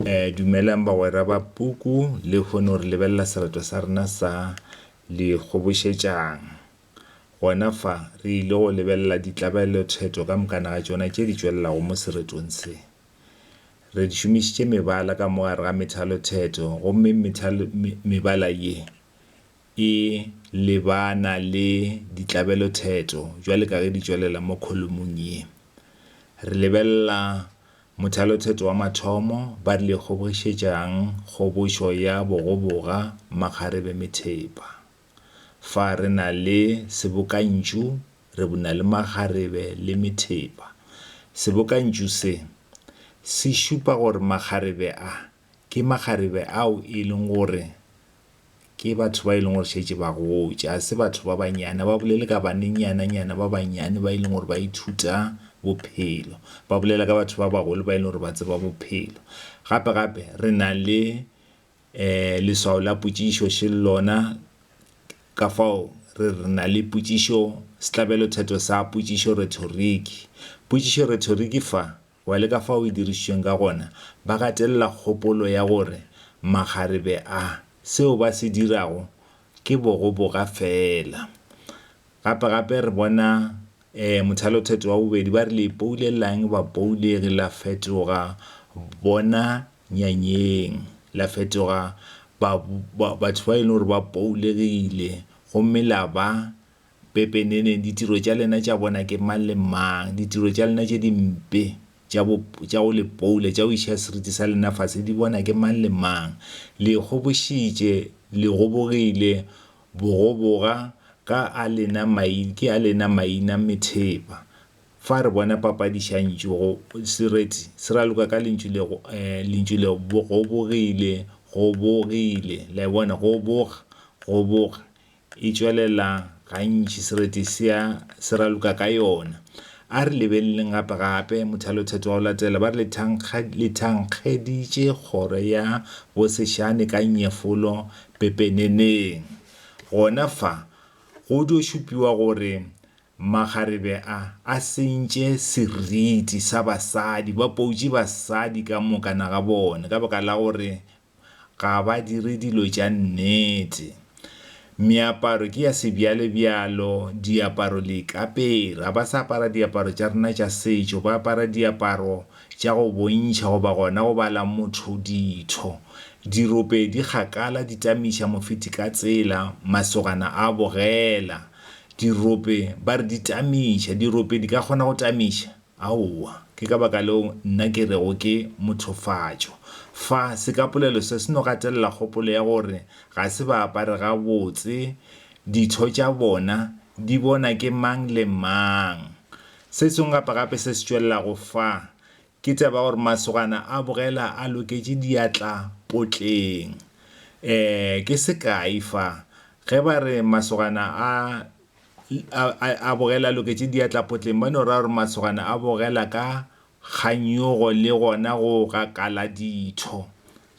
E, dumelang bagwera ba puku, le kgone gore lebelela selato sa rena sa Le Kgobošetšang. Gona fa, re ile go lebelela ditlabelothetho ka mokana ga tšona tše di tšwelelago mo seretong se. Re šomišitše mebala ka mo gare ga methalothetho, gomme methalo, me, mebala ye e lebana le ditlabelothetho bjale ka ge di tšwelela mo kholomong ye. Re lebelela Mothalotheto wa mathomo, Ba rile kgobogišetša'ng kgobošo ya bogoboga makgarebe methepa? Fa re na le sebokantšu re buna le makgarebe le methepa. Sebokantšu se, se šupa gore makgarebe a Ke makgarebe ao e leng gore ke batho ba e leng gore šetše ba gotše, ga se batho ba bannyane. Ga ba bolele ka banenyananyana ba bannyane ba e leng gore ba ithuta bophelo, ba bolela ka batho ba bagolo ba e leng gore ba tseba bophelo. Gape-gape re na le um leswao la potšišo še lona ka fao re re na le potšišo, sehlabelothetho sa potšišo, rhetoric. Potšišo, rhetoric, fa. Wa le ka fao e dirišitšweng ka gona, ba gatelela kgopolo ya gore makgarebe a, seo ba se dirago ke bogoboga feela. Gape-gape re bona um mothalothetho wa bobedi ba re, Le ipoulela'ng, bapoulegi? La fetoga bona nyanyeng, la fetoga ba, ba, batho ba e leng gore ba poulegile, gomme la ba Pepeneneng, ditiro tša lena tša bona ke mang le mang, ditiro tša lena tše dimpe tša bo, tša go le poula, tša go iša seriti sa lena fase, di bona ke mang le mang. Le gobošitše, le gobogile, bogoboga ka a lena mai, ke a lena maina methepa. Fa re bona papadi šantšo go, sereti se raloka ka lentšu le, lentšu le, gobogile, gobogile. Le a e bona? Goboga, goboga. E tšwelela gantši, sereti se a se raloka ka yona. A re lebeleleng gape-gape mothalothetho wa go latela. Ba re le thankgeditše kgoro ya bosešane ka nyefolo pepeneneng. Gona fa go dio šupiwa gore makgarebe a a sentše seriti sa basadi, ba poutše basadi ka moka na ga bone ka baka la gore ga ba dire dilo tša nnete. Meaparo ke ya sebjalebjalo, diaparo le ikapere. Ga ba sa apara diaparo tša rena tša setšo, ba apara diaparo tša go bontšha goba gona go bala motho ditho. Dirope di kgakala di tamiša mofeti ka tsela, masogana a bogela. Dirope ba re di tamiša. Dirope di ka kgona go tamiša? Aowa. Ke ka baka leo nna ke rego ke mothofatšo. Fa, se ka polelo se se no gatelela kgopolo ya gore ga se ba apare gabotse ditho tša bona di bona ke mang le mang. Se sengwe gape gape se se tšwelelago fa, ke taba ya gore masogana a bogela a loketše diatla potleng. Ee, ke sekae fa, ge ba re masogana a A, a, a bogela a loketše diatla potleng, ba no ra gore masogana a bogela ka kganyogo le gona go gakala ditho.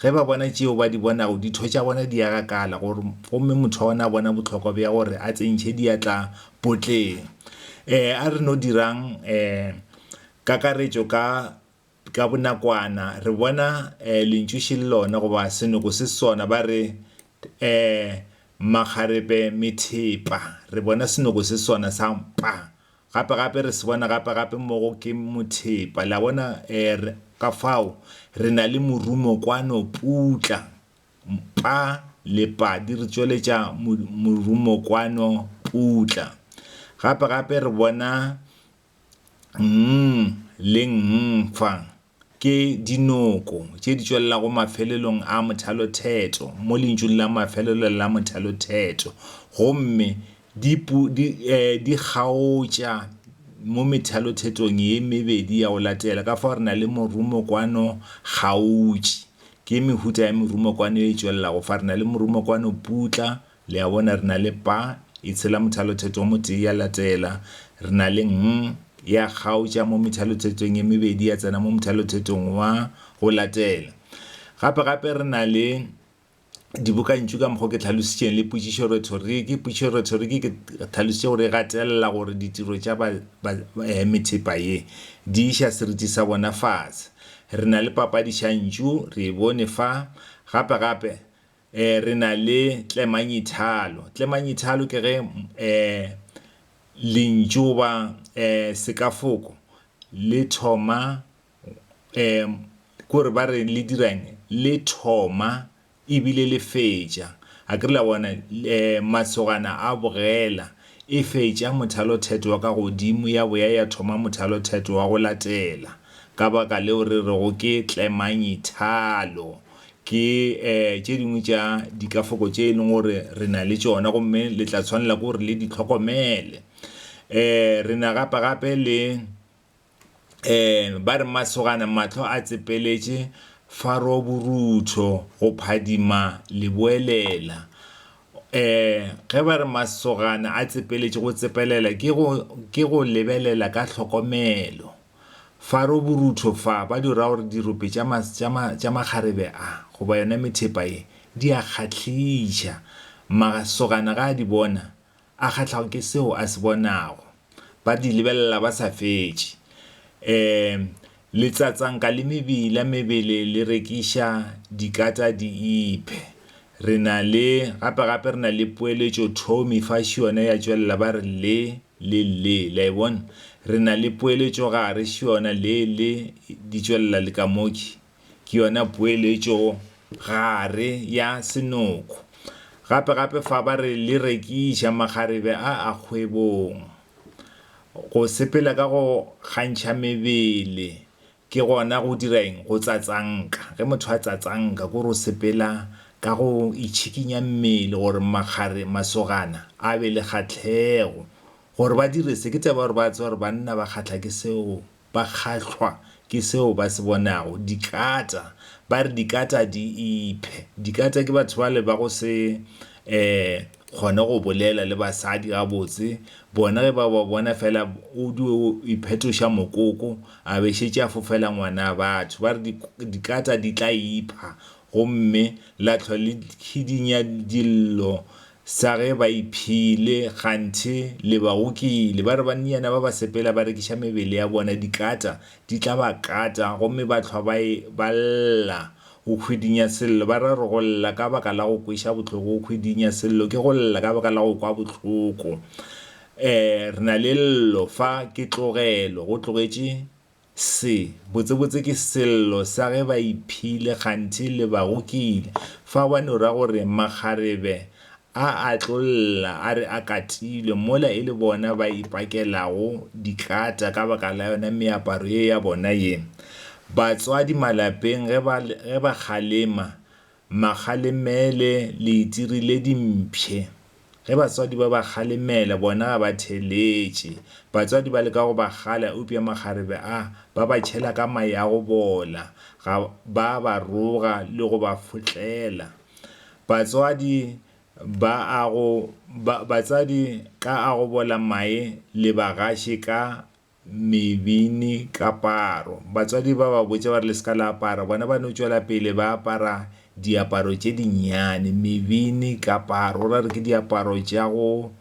Ge ba bona tšeo ba di bonago, ditho tša bona di a gakala, gore, gomme motho wa gona a bona bohlokwa bja gore a tsentšhe diatla potleng. Um a re no dirang um kakaretšo ka Ka bonakwana re bona lentšu še le lona goba senoko se sona, ba re makgarepe methepa. Re bona senoko se sona sa mpa gape-gape, re se bona gape-gape mo go ke mothepa. Le a bona? Ka fao re na le morumo kwano, putla, mpa le padi, re tšweletša morumo kwano, putla. Gape-gape re bona Nng le nng fa ke dinoko tše di tšwelelago mafelelong a mothalothetso mo lentšung la mafelelo la mothalothetso gomme di, pu, di, e, di kgaotša mo methalothetsong ye mebedi ya go latela. Ka fao re na le morumokwano kgaotši. Ke mehuta ya merumokwano e tšwelelago fa. Re na le morumokwano putla Le a bona, re na le Pa, e tshela mothalothetho o motee, ya latela. Re na le Ng, ya kgaotša mo methalothetong e mebedi, ya tsena mo mothalothetong wa go latela. Gape, gape re na le dibokantšu ka mokgwa ke tlhalositšeng, le potšišo rhetoriki. Potšišo rhetoriki ke tlhalositše gore e gatelela gore ditiro tša ba, ba, ba, eh, methepa ye di iša seriti sa bona fase. Re na le papadišantšu, re e bone fa. Gape, gape E, re na le tlemanyithalo. Tlemanyithalo ke ge e, lentšu goba e, sekafoko le thoma e, ke gore ba re le dirang le thoma ebile le fetša. A ke re la bona e, masogana a bogela e fetša mothalothetho wa ka godimo ya boya ya thoma mothalothetho wa go latela. Ka baka leo re rego ke tlemanyithalo. Ke tše dingwe tša dikafoko tše e leng gore re na le tšona gomme le tla tshwanela ke gore le di hlokomele. Re na gapa gape le ba re masogana mahlo a tsepeletše faro borutho go phadima leboelela. Ge ba re masogana a tsepeletše go tsepelela ke go lebelela ka hlokomelo. Faro borutho fa ba di ra gore dirope tša ma, tša ma, tša makgarebe a, goba yona methepa ye, di a kgahliša. Masogana ge a di bona, a kgahlago ke seo a se bonago. Ba di lebelela ba sa fetše. Um, letsatsanka le mebila mebele le rekiša dikata di iphe. Re na le, gape, gape re na le poeletšo Tommy fa šiona ya tšwelela ba re le, le le. Le a e bona? Re na le poeletšo gare šiona le, le, di tšwelela le ka mo ke, ke yona poeletšo gare ya senoko. Gape, gape fa ba re le rekiša makgarebe a a kgwebong, go sepela ka go kgantšha mebele, Ke gona go dira eng? Go tsatsanka. Ge motho a tsatsanka, ke gore o sepela ka go itšhikinya mmele gore makgare, masogana, a be le kgahlego. Gore ba dire se, ke taba ya gore ba tseba gore banna ba kgahla ke seo, ba kgahlwa ke seo ba se bonago. Dikata, ba re dikata di iphe. Dikata ke batho bale ba go se um kgone go bolela le basadi gabotse. Bona ge ba ba bona fela, o di o iphetoša mokoko. A be šetše a fofela ngwana. Batho ba re di, dikata di tla ipha, gomme la hlwa le khidinya dillo sa ge ba iphile, kganthe le ba gokile. Ba re bannyana ba ba sepela ba rekiša mebele ya bona, dikata di tla ba kata, gomme ba hlwa ba e, ba lla. Go khwidinya sello, ba ra re go lla ka baka la go kweša bohloko. Go khwidinya sello ke go lla ka baka la go kwa bohloko. Ee, re na le llo fa ke tlogelo go tlogetše se. Botsebotse ke sello sa ge ba iphile kganthe le ba gokile. Fa wa no ra gore makgarebe a a tlo lla a re a katilwe mola e le bona ba ipakelago dikata ka baka la yona meaparo ye ya bona ye. Batswadi malapeng ge ba kgalema Makgalemele le itirile dimpshe. Ge batswadi ba ba kgalemela, bona ga ba theletše. Batswadi ba leka go ba kgala, eupša makgarebe a, ba ba tšhela ka mae a go bola. Ga ba a ba roga le go ba fotlela. Batswadi ba a go, ba, batswadi ka a go bola mae le bagaše ka Mebini kaparo. Batswadi ba ba botša ba re le se ka la apara, bona ba no tšwela pele ba apara diaparo tše dinnyane. Mebini kaparo, ra re ke diaparo tša go,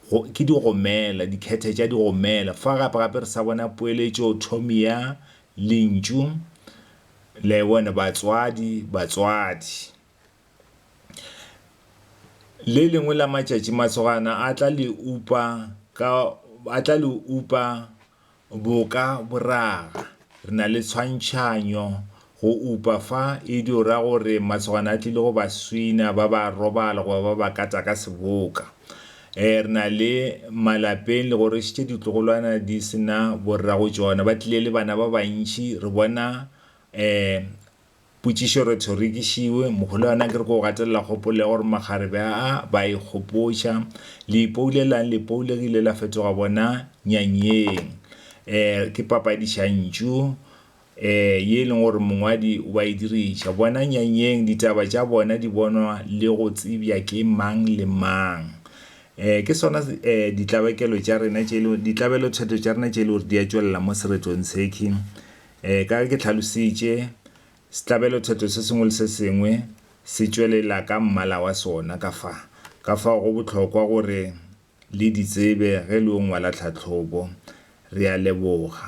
go, ke digomela, dikhethe tša digomela. Fa gape gape re sa bona poeletšo thoming ya lentšu, le a e bona, batswadi, batswadi. Le lengwe la matšatši masogana a tla le upa ka a tla le upa boka boraga. Re na le tshwantšhanyo go upa fa e dio ra gore masogana a tlile go ba swina ba ba robala goba ba ba kata ka seboka. Eh re na le malapeng le gore šetše ditlogolwana di sena borra go tšona ba tlile le bana ba bantši re bona eh Potšišo re thorikišiwe, Moholwana ke re ke o gatelela kgopolo ya gore makgarebe a a ba e kgopotša. Le ipoulelang, lepoule ge ile la fetoga bona nyanyeng. E, ke papadišantšu e, ye e leng gore mongwadi o a e diriša. Bona nyanyeng ditaba tša bona di bonwa le go tsebja ke mang le mang. E, ke sona e, ditlabakelo tša rena tše e le, ditlabelothetho tša rena tše e le gore di a tšwelela mo seretong sekhwi. Ee, ka ge ke tlhalositše, setlabelothetho se sengwe le se sengwe se tšwelela ka mmala wa sona ka fa. Ka fao go bohlokwa gore le di tsebe ge le yo ngwala tlhahlobo. Re a leboga.